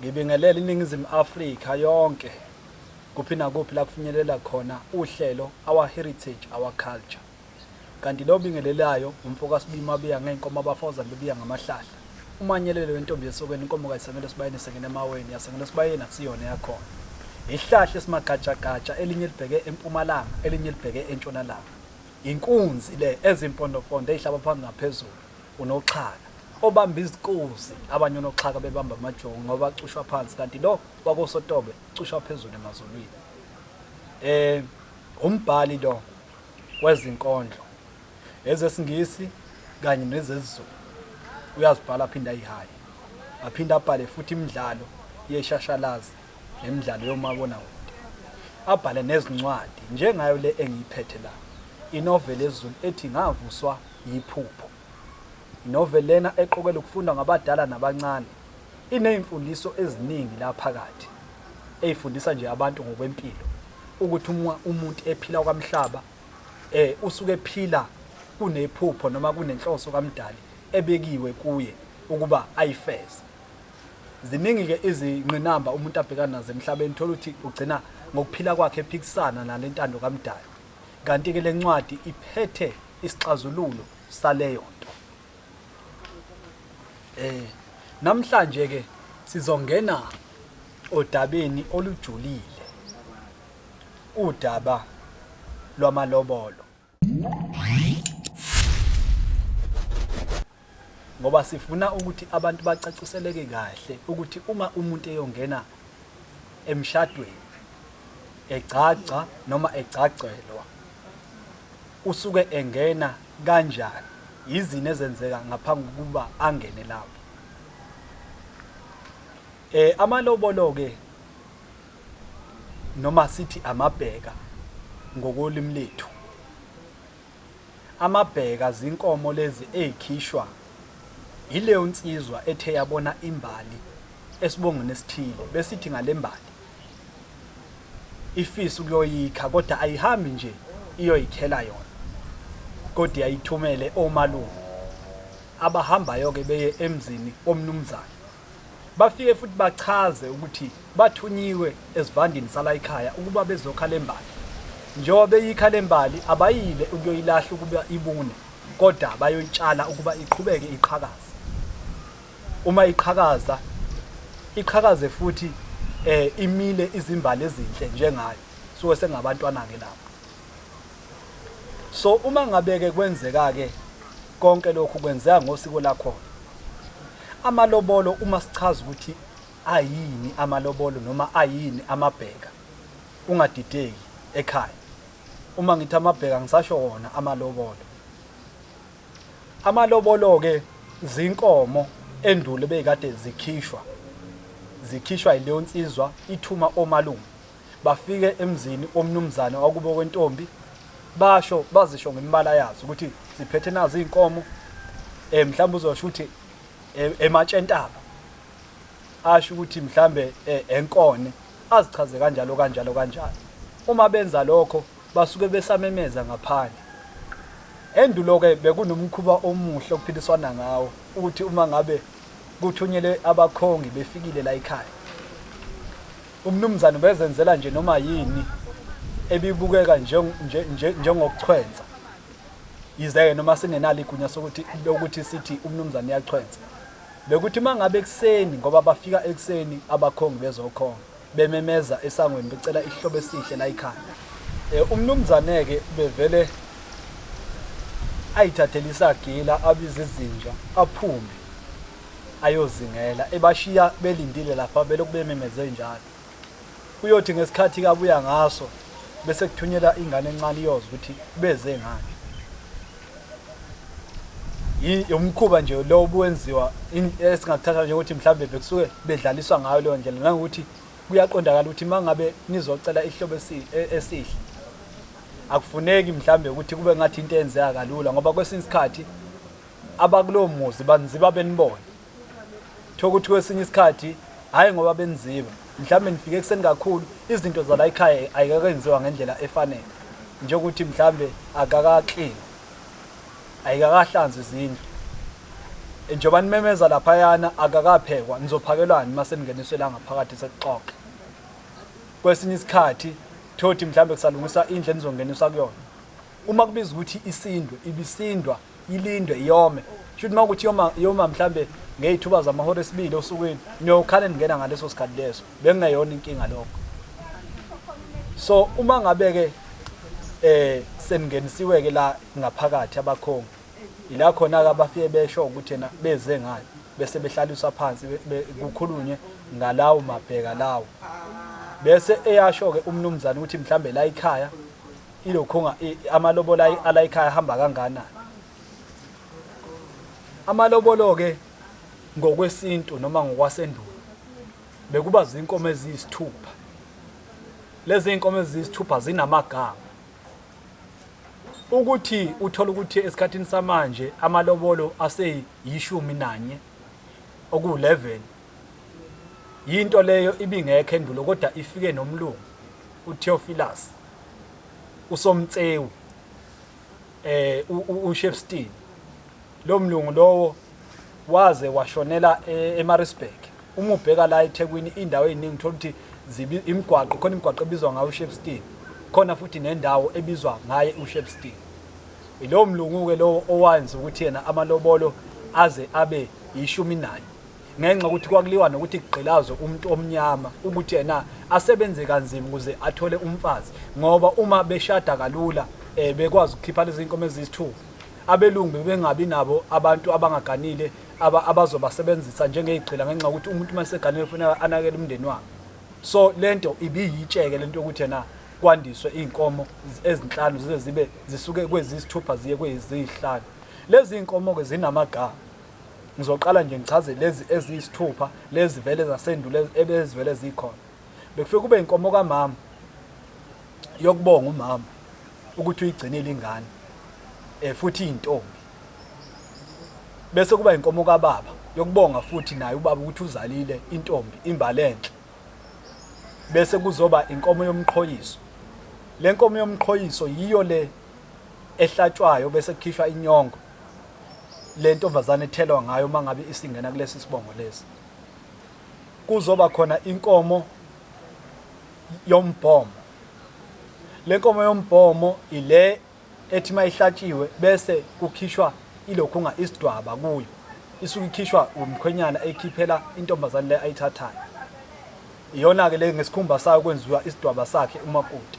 Ngibingelela iNingizimu Afrika yonke kuphi nakuphi la kufinyelela khona uhlelo Our Heritage Our Culture. Kanti lo obingelelayo nguMfokaSibiya uMabiya ngey'nkomo abafaWuza bebiya ngamahlahla. Umanyelele wentombi yesokeni inkomo kayisengelosibayeni isengena emaweni yasengelosibayeni akusiyona eyakhona. Ihlahla esimagajagaja elinye libheke empumalanga elinye libheke entshonalanga. Inkunzi le ezimpondopondo eyihlaba phansi naphezulu. unoxhaka obamba izikuzi abanye unoxhaka bebamba amajongo ngoba cushwa phansi kanti lo wakosotobe cushwa phezulu emazulwini eh umbhali lo wezinkondlo ezesingisi kanye nezezulu uyazibhala aphinda ayihaye aphinda abhale futhi imidlalo yeshashalazi nemidlalo yomabona kude abhale nezincwadi njengayo le engiyiphethe la inoveli ezulu ethi ngavuswa Yiphupho. Inoveli lena eqokelwe ukufundwa ngabadala nabancane, iney'mfundiso eziningi la phakathi, ey'fundisa nje abantu ngokwempilo, ukuthi uma umuntu ephila okwamhlaba, usuke ephila kunephupho noma kunenhloso kaMdali ebekiwe kuye ukuba ayifeze. Ziningi-ke izingqinamba umuntu abhekana nazo emhlabeni, uthole ukuthi ugcina ngokuphila kwakhe ephikisana nale ntando kaMdali. kanti-ke le ncwadi iphethe isixazululo saleyo nto. Eh, namhlanje ke sizongena odabeni olujulile udaba lwamalobolo. ngoba sifuna ukuthi abantu bacaciseleke kahle ukuthi uma umuntu eyongena emshadweni egcagca noma egcagcelwa usuke engena kanjani yizini ezenzeka ngaphambi kokuba angene lapho eh amalobolo ke noma sithi amabheka ngokolimi lethu Amabheka zinkomo lezi ey'khishwa yileyo nsizwa ethe yabona imbali esibongweni esithile bese ithi ngale mbali ifisa ukuyoyikha kodwa ayihambi nje iyoyikhela yona kodwa iyayithumele omalume abahambayo-ke beye emzini womnumzane Bafike futhi bachaze ukuthi bathunyiwe esivandini salayikhaya ukuba bezokha lembali. Njengoba beyikha lembali abayile ukuyoyilahla ukuba ibune kodwa bayoyitshala ukuba iqhubeke iqhakaze. Uma iqhakaza iqhakaze futhi eh imile izimbali ezinhle njengayo suke sengabantwana ke lapho. So uma ngabe ke kwenzeka ke konke lokhu kwenzeka ngosiko lakhona. Amalobolo uma sichaza ukuthi ayini amalobolo noma ayini amabheka ungadideki ekhaya uma ngithi amabheka ngisasho wona amalobolo amalobolo ke zinkomo endulo beyikade zikhishwa zikhishwa yileyo nsizwa ithuma omalume Bafike emzini womnumzane wakubo kwentombi basho bazisho ngemibala yazo ukuthi ziphethe nazo izinkomo eh mhlawumbe uzosho ukuthi eh, ematshentaba asho ukuthi mhlambe eh, enkone azichaze kanjalo kanjalo kanjalo uma benza lokho basuke besamemeza ngaphandle endulo ke bekunomkhuba omuhle okuphiliswana ngawo ukuthi uma ngabe kuthunyelwe abakhongi befikile la ekhaya Umnumzane ubezenzela nje noma yini ebibukeka njengokuchwensa yize-ke noma singenalo igunya sokuthi lokuthi sithi umnumzane uyachwensa bekuthi uma ngabe ekuseni ngoba bafika ekuseni abakhongi bezokhonga bememeza esangweni becela ihlobo esihle la ikhaya um eh, umnumzane-ke bevele ayithathele isagila abize izinja aphume ayozingela ebashiya belindile lapha belokhu bememeze njalo kuyothi ngesikhathi kabuya ngaso bese kuthunyela ingane encane iyoza ukuthi beze ngani yomkhuba nje lo obuwenziwa esingakuthatha nje ukuthi mhlawumbe bekusuke bedlaliswa ngayo leyo ndlela nangokuthi kuyaqondakala ukuthi mangabe nizocela ihlobo e-, esihle akufuneki mhlawumbe ukuthi kube ngathi into eyenzeka kalula ngoba kwesinye isikhathi abakulowo muzi baniziba benibone kuthiwa ukuthi kwesinye isikhathi hhayi ngoba beniziba mhlawumbe nifike ekuseni kakhulu izinto zala ekhaya ayikakenziwa ngendlela efanele njengokuthi mhlawumbe akakaklini ayikakahlanzwa izindlu njengoba nimemeza laphayana akakaphekwa nizophakelwani uma seningeniswe la ngaphakathi sekuxoxe kwesinye isikhathi thothi mhlawumbe kusalungiswa indlu enizongeniswa kuyona uma kubiza ukuthi isindwe ibisindwa ilindwe yome shuthi uma ukuthi yoma yoma mhlambe ngeyithuba zamahora esibili osukwini niyokhale ningena ngaleso sikhathi leso bekungeyona inkinga lokho so uma ngabe ke eh seningenisiwe ke la ngaphakathi abakhongi ila khona ke abafike besho ukuthi yena beze ngani bese behlaliswa phansi kukhulunywe ngalawo mabheka lawo bese eyasho ke umnumzane ukuthi mhlambe la ikhaya ilokhunga amalobola ala ekhaya hamba kangana amalobolo ke ngokwesintu noma ngokwasendulo bekuba zinkomo eziyisithupha lezi zinkomo eziyisithupha zinamagama ukuthi uthola ukuthi esikhathini samanje amalobolo aseyishumi nanye oku-11 yinto leyo ibingekho endulo kodwa ifike nomlungu utheophilus uSomtsewu eh uShepstein lo mlungu lowo waze washonela eh, eMaritzburg uma ubheka la eThekwini indawo eziningi uthola ukuthi imigwaqo khona imigwaqo ebizwa ngayo uShepstein khona futhi nendawo ebizwa ngaye uShepstein ilowo mlungu-ke lowo owayenza ukuthi yena amalobolo aze abe yishumi nanye ngenxa yokuthi kwakuliwa nokuthi kugqilazwe umuntu omnyama ukuthi yena asebenze kanzima ukuze athole umfazi ngoba uma beshada kalula um bekwazi ukukhipha lezi nkomo eziyisithupha abelungu bebengabi nabo abantu abangaganile abazobasebenzisa njengeyigqila ngenxa yokuthi umuntu uma eseganile kufanele anakele umndeni wakhe so le nto ibiyitsheke le nto yokuthi yena kwandiswe iy'nkomo ezinhlanu zize zibe zisuke kweziyisithupha ziye kweziyihlanu lezi y'nkomo-ke zinamagama Ngizoqala nje ngichaze lezi eziyisithupha lezi vele zasendulo ebezivele zikhona. Bekufike kube inkomo kamama yokubonga umama ukuthi uyigcinile ingane eh futhi intombi. Bese kuba inkomo kababa yokubonga futhi naye ubaba ukuthi uzalile intombi imbalenhle. Bese kuzoba inkomo yomqhoyiso. Lenkomo yomqhoyiso yiyo le ehlatshwayo bese kukhishwa inyongo le ntombazane ethelwa ngayo uma ngabe isingena kulesi sibongo lesi kuzoba khona inkomo yombhomo le nkomo yombhomo ile ethi uma ihlatshiwe bese kukhishwa ilokhunga isidwaba kuyo isuke ikhishwa umkhwenyana eyikhiphela intombazane le ayithathayo iyona-ke le ngesikhumba sayo kwenziwa isidwaba sakhe umakoti